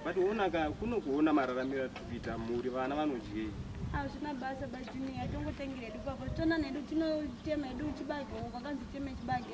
but onaka kuno kuona mararamiro atiri kuita mhuri vana vanodyei hazvina basa bajuniya tongotengera hedu papa tona nedu tinotema hedu chibage uko akanzi teme chibage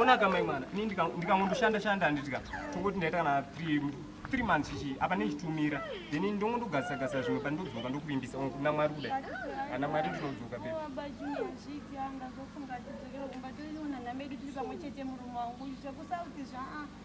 ona kamai mwana ini ndikangondoshanda shanda handitika tokuti ndaita kana three months ichi apa nechitumira then ndongondogasisa gasisa zvimwe pa ndodzoka ndokuvimbisa kuna mwari kudai ana mwari ndinodzoka pe Thank you.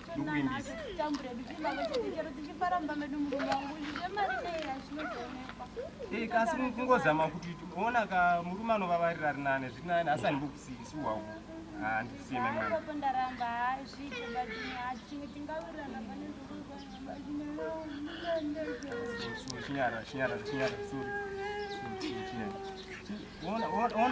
ndokuvimbisa ee kasi kungozama kuti ona ka murume anovavarira ari nane zviri nane asi andimbokusisi wawo handisiyeme mwana chinyara chinyara chinyara sorry